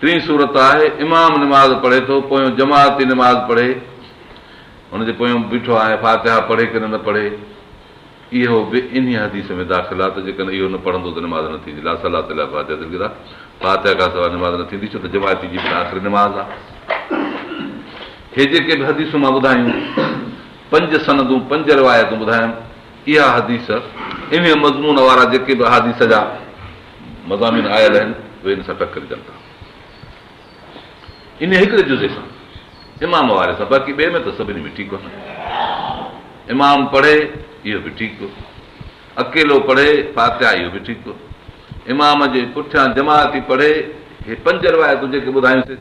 ٽين صورت آهي، امام نماز پڙهي ٿو، پويون جماعتي نماز پڙهي، ان جي پويون بيٺو آهي، فاتحه پڙهي ڪنه نه پڙهي، اهو به انهيء حديث ۾ داخل آهي ته جيڪڏهن اهو نه پڙهندو ته نماز نه ٿيندي، لا صلاة الا بفاتحة الڪتاب، فاتحه کان سواء نماز نه ٿيندي، ڇو ته جماعتي جي به آخري نماز آهي. هي جيڪي به حديثون مان ٻڌايون، پنج سندون، پنج روايتون ٻڌايم، اها حديث، انهيء مضمون وارا جيڪي به احاديث جا. مضامين آيل آهن اهي ان سان ٽڪرجن ٿا انهيء هڪڙي جزي سان امام واري سان باقي ٻئي ۾ ته سڀني ۾ ٺيڪ وٺن امام پڙهي اهو به ٺيڪ اڪيلو پڙهي فاتحا اهو به ٺيڪ امام جي پٺيان جماعتي پڙهي هي پنج روايتون جيڪي ٻڌايون سي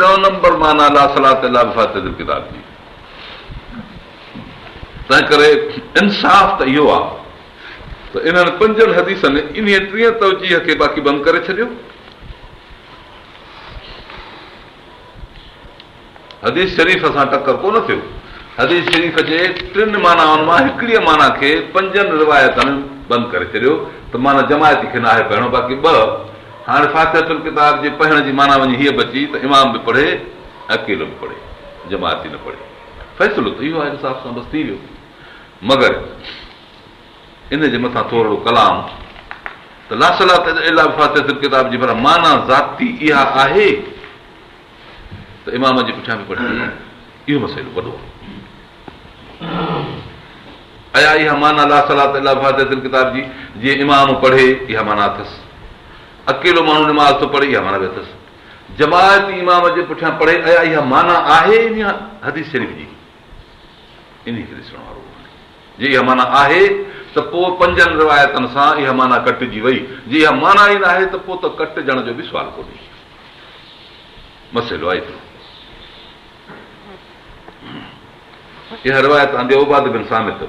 ڏهون نمبر معنيٰ لا صلاة الا بفاتحة الڪتاب جي تنهن ڪري انصاف ته اهو آ ته انهن پنجن حديثن انهيء ٽين توجيهه کي باقي بند ڪري ڇڏيو. حديث شريف سان ٽڪر ڪونه ٿيو. حديث شريف جي ٽن معنائن مان هڪڙيء معنيٰ کي پنجن روايتن بند ڪري ڇڏيو ته معنيٰ جماعتي کي ناهي پهرڻو باقي ٻه هاڻي فاتحة الڪتاب جي پڙهڻ جي معنيٰ وڃي هيء بچي ته امام به پڙهي ۽ اڪيلو به پڙهي، جماعتي نه پڙهي. فيصلو ته اهو آهي جو صاحب سان بس ٿي ويو. مگر ان جي مٿان ٿورڙو ڪلام ته لا صلاة الا بفاتحة الڪتاب جي پر معنيٰ ذاتي اها آهي ته امام جي پٺيان به پڙهي اهو مسئلو وڏو آهي. ايا اها معنيٰ لا صلاة الا بفاتحة الڪتاب جي، جيئن امام پڙهي، اها معنيٰ اٿس؟ اڪيلو ماڻهو نماز ٿو پڙهي، اها معنيٰ به اٿس؟ جماعتي امام جي پٺيان پڙهي، ايا اها معنيٰ آهي انهيء حديث شريف جي؟ انهيء کي ڏسڻ وارو ڪونهي. جي اها معنيٰ آهي ته پوء پنجن روايتن سان اها معنيٰ ڪٽجي وئي. جي اها معنيٰ ئي ناهي ته پوء ته ڪٽجڻ جو به سوال ڪونهي. مسئلو آهي ايترو. اها روايت آندي عباده بن صامت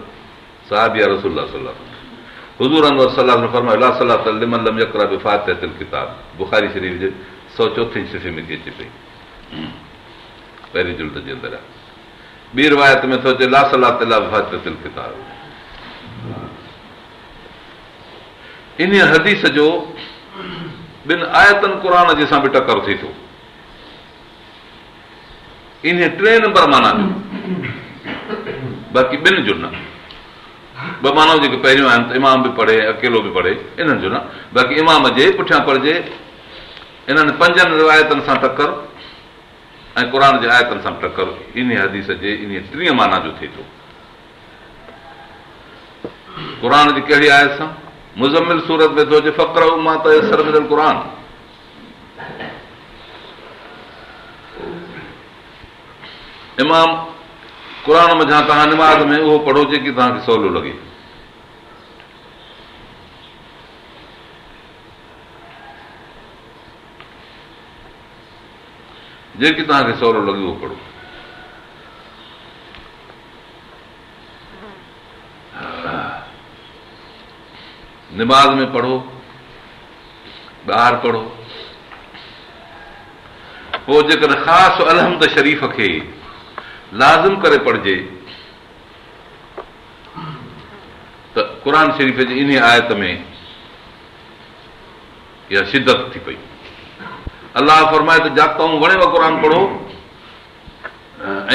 صحابي آهي رسول الله صلي الله عليه وسلم حضور انور صلي الله عليه وسلم فرمايو لا صلاة لمن لم يقرا بفاتحة الكتاب بخاري شريف جي سؤ چوٿين صفحي ۾ ٿي اچي پئي پهرين جلد جي اندر آهي ٻي روايت ۾ ٿو اچي لا صلاح تلا فاطر تل ڪتاب ان حديث جو ٻن آيتن قرآن جي سان به ٽڪر ٿي ٿو انهيء ٽئين نمبر معنيٰ جو باقي ٻن جو نه. ٻه معنائون جيڪي پهريون آهن ته امام به پڙهي ۽ اڪيلو به پڙهي، انهن جو نه، باقي امام جي پٺيان پڙهجي. انهن پنجن روايتن سان ٽڪر ۽ قرآن جي آيتن سان به ٽڪر انهيء حديث جي انهيء ٽئين معنيٰ جو ٿئي ٿو. قرآن جي ڪهڙي آيت سان؟ مزمل سورت ۾ ٿو اچي فقرء ما تيسر من القرآن. امام، قرآن منجهان توهان نماز ۾ اهو پڙهو جيڪي توهان کي سولو لڳي. جيڪي توهان کي سولو لڳي اهو پڙهو. نماز ۾ پڙهو، ٻاهر پڙهو، پوء جيڪڏهن خاص الحمد شريف کي لازم ڪري پڙهجي ته قرآن شريف جي انهي آيت ۾ اها شدت ٿي پئي. الله فرمائي ٿو جا تون وڻيو قرآن پڙهو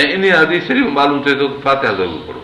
۽ انهي حديث شريف ۾ معلوم ٿئي ٿو ته فاتحه ضرور پڙهو.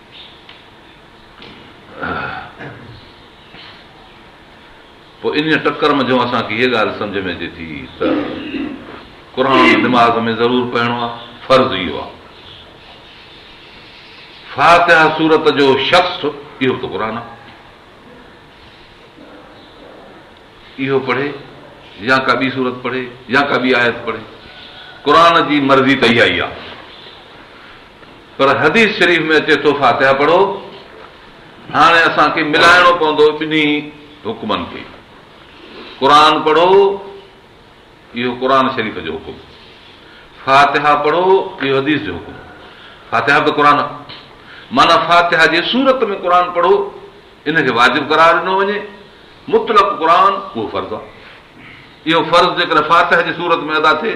پوء انهيء ٽڪر منجهو اسان کي هيء ڳالهه سمجهه ۾ اچي ٿي ته قرآن نماز ۾ ضرور پڙهڻو آهي، فرض اهو آهي. فاتحه سورت جو شخص اهو ته قرآن آهي. اهو پڙهي يا ڪا ٻي سورت پڙهي يا ڪا ٻي آيت پڙهي، قرآن جي مرضي ته اها ئي آهي. پر حديث شريف ۾ اچي ٿو فاتحه پڙهو، هاڻي اسان کي ملائڻو پوندو ٻنهي حڪمن کي، قرآن پڙهو، اهو قرآن شريف جو حڪم، فاتحه پڙهو، اهو حديث جو حڪم، فاتحه به قرآن آهي، معنيٰ فاتحه جي صورت ۾ قرآن پڙهو، ان کي واجب قرار ڏنو وڃي، مطلق قرآن اهو فرض آهي، اهو فرض جيڪڏهن فاتحه جي صورت ۾ ادا ٿئي.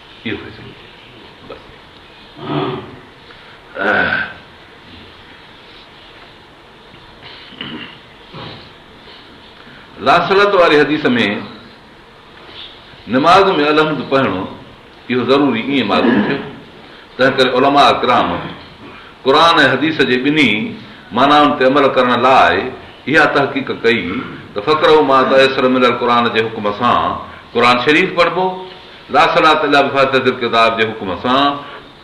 اهو فيصلو ٿيو بس لاصلات واري حديث ۾ نماز ۾ الحمد پڙهڻو اهو ضروري ائين معلوم ٿيو تنهن ڪري علماء اڪرام قرآن ۽ حديث جي ٻنهي معنائن تي عمل ڪرڻ لاء اها تحقيق ڪئي ته فڪر ملل قرآن جي حڪم سان قرآن شريف پڙهبو لا صلاة الا بفاتحة الڪتاب جي حڪم سان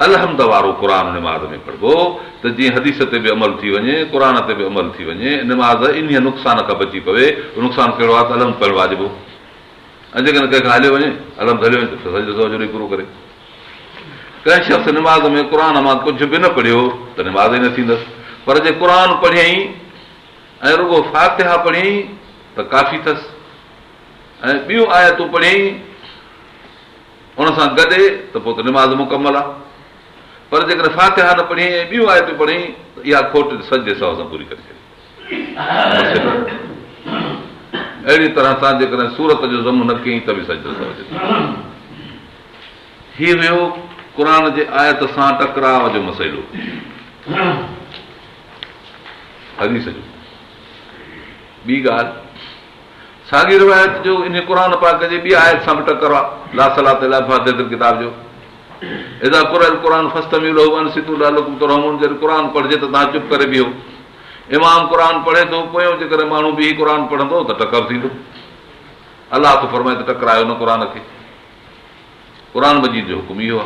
الحمد وارو قرآن نماز ۾ پڙهبو ته جيئن حديث تي به عمل ٿي وڃي، قرآن تي به عمل ٿي وڃي، نماز انهيء نقصان کان بچي پوي، اهو نقصان ڪهڙو آهي ته الحمد پڙهڻ واجب هو ۽ جيڪڏهن ڪنهن کان هليو وڃي، الحمد هليو وڃي ته پوء سجدو سهو جو ڏيئي پورو ڪري. ڪنهن شخص نماز ۾ قرآن مان ڪجهه به نه پڙهيو ته نماز ئي نه ٿيندس، پر جي قرآن پڙهيائين ۽ رڳو فاتحه پڙهيائين ته ڪافي ٿس، ۽ ٻيون آيتون پڙهيائين ان سان گڏ ته پوء ته نماز مڪمل آهي پر جيڪڏهن فاتحه نه پڙهيائين ۽ ٻيون آيتون پڙهيائين ته اها کوٽ سجدي سهو سان پوري ڪري ڇڏي. اهڙي طرح سان جيڪڏهن سورت جو ضم نه ڪيائين ته به سجدو سهو جي ٿو. هي هيو قرآن جي آيت سان ٽڪراء جو مسئلو. حديث جو ٻي ڳالهه ساڳي روايت جو انهي قرآن پاڪ جي ٻي آيت سان به ٽڪر آ، لا صلاة الا بفاتحة الڪتاب جو، اذا قرئ القرآن فاستمعوا له وانصتوا لعلکم ترحمون جڏهن قرآن پڙهجي ته توهان چپ ڪري بيهو. امام قرآن پڙهي ٿو، پويون جيڪڏهن ماڻهو بيهي قرآن پڙهندو ته ٽڪر ٿيندو. الله ٿو فرمائي ته ٽڪرايو نه قرآن کي. قرآن مجيد جو حڪم اهو آ.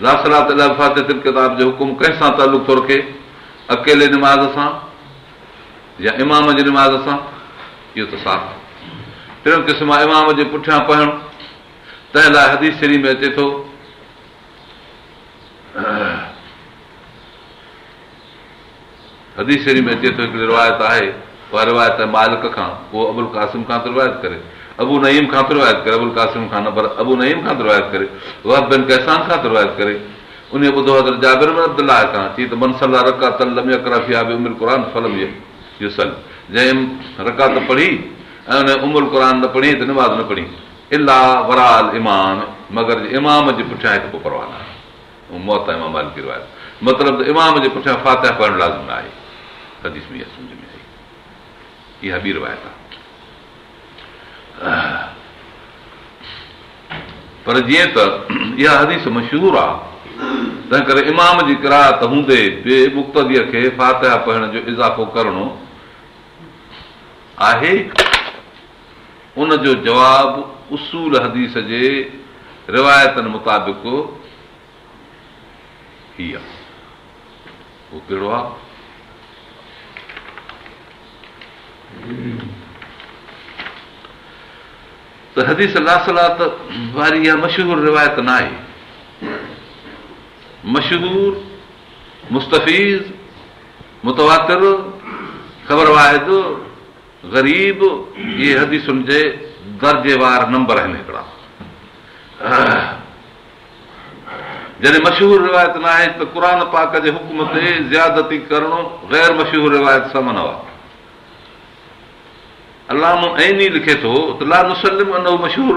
لا صلاة الا بفاتحة الڪتاب جو حڪم ڪنهن سان تعلق ٿو رکي؟ اڪيلي نماز سان يا امام جي نماز سان؟ اهو ته صاف آهي. ٽيون قسم آهي امام جي پٺيان پڙهڻ، تنهن لاء حديث شريف ۾ اچي ٿو. حديث شريف ۾ اچي ٿو هڪڙي روايت آهي اها روايت آهي مالڪ کان پوء ابوالقاسم کان ٿو روايت ڪري ابو نعيم کان ٿو روايت ڪري ابوالقاسم کان نه پر ابو نعيم کان ٿو روايت ڪري وهب بن ڪيسان کان ٿو روايت ڪري انهيء ٻڌو حضرت جابر بن عبدالله کان چي ته من صلي رڪعتا لم يقرا فيها بام القرآن فلم يصل جنهن رڪعت پڙهي ۽ ان ام القرآن نه پڙهيائين ته نماز نه پڙهيائين الا وراء الامام مگر جو امام جي پٺيان هڪ پوء پرواهه نه آهي موطا امام مالڪ جي روايت مطلب ته امام جي پٺيان فاتحه پڙهڻ لازم نه آهي حديث ۾ اها سمجهه ۾ آئي اها ٻي روايت آهي پر جيئن ته اها حديث مشهور آهي تنهن ڪري امام جي قرائت هوندي به مقتديء کي فاتحه پڙهڻ جو اضافو ڪرڻو آهي ان جو جواب اصول حديث جي روايتن مطابق هي آهي. اهو ڪهڙو آهي؟ ته حديث لا صلات واري اها مشهور روايت نه آهي. مشهور مستفيض متواتر خبر واحد غريب، اهي حديثن جي درجيوار نمبر آهن هڪڙا. جڏهن مشهور روايت ناهي ته قرآن پاڪ جي حڪم تي زيادتي ڪرڻ غير مشهور روايت سان منع آهي. علامه عيني لکي ٿو ته لا نسلم انه مشهور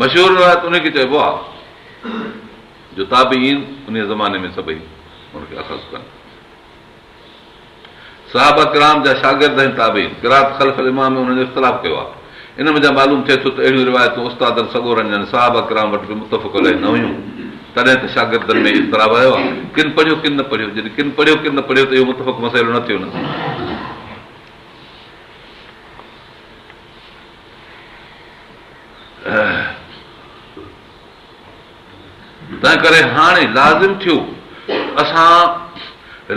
مشهور روايت انهي کي چئبو آهي جو تابعين انهي زماني ۾ سڀئي ان کي اخذ ڪن صحابه ڪرام جا شاگرد ۽ تابعين قرات خلف الامام ۾ انهن جو اختلاف ڪيو آهي ان منجهان معلوم ٿئي ٿو ته اهڙيون روايتون استادن سڳورن يعني صحابه ڪرام وٽ به متفق عليه نه هيون، تڏهن ته شاگردن ۾ ئي اضطراب آيو آهي، ڪن پڙهيو ڪن نه پڙهيو، جڏهن ڪن پڙهيو ڪن نه پڙهيو ته اهو متفق مسئلو نه ٿيو نه. تنهنڪري هاڻي لازم ٿيو ته اسان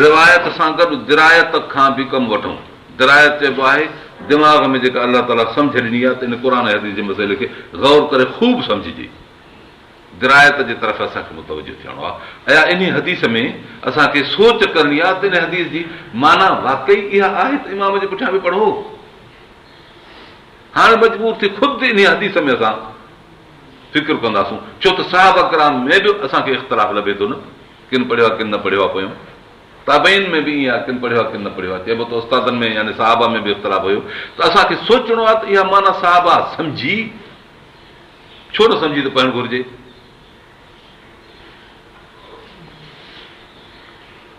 روايت سان گڏ درايت کان به ڪم وٺون. درايت چئبو آهي دماغ ۾ جيڪا الله تعاليٰ سمجهه ڏني آهي ته ان قرآن ۽ حديث جي مسئلي کي غور ڪري خوب سمجهجي. درايت جي طرف اسان کي متوجهه ٿيڻو آهي. ايا انهي حديث ۾ اسان کي سوچ ڪرڻي آهي ته ان حديث جي معنيٰ واقعي اها آهي ته امام جي پٺيان به پڙهو. هاڻي مجبور ٿي خود انهي حديث ۾ اسان. فڪر ڪنداسون، ڇو ته صحابه ڪرام ۾ به اسان کي اختلاف لڀي ٿو نه، ڪن پڙهيو آ ڪن نه پڙهيو آ پويون تابعين ۾ به ائين آ ڪن پڙهيو آ ڪن نه پڙهيو آ چئبو ته استادن ۾ يعني صحابه ۾ به اختلاف هيو ته اسان کي سوچڻو آ ته اها معنيٰ صحابه سمجهي ڇو نه سمجهي ته پڙهڻ گهرجي.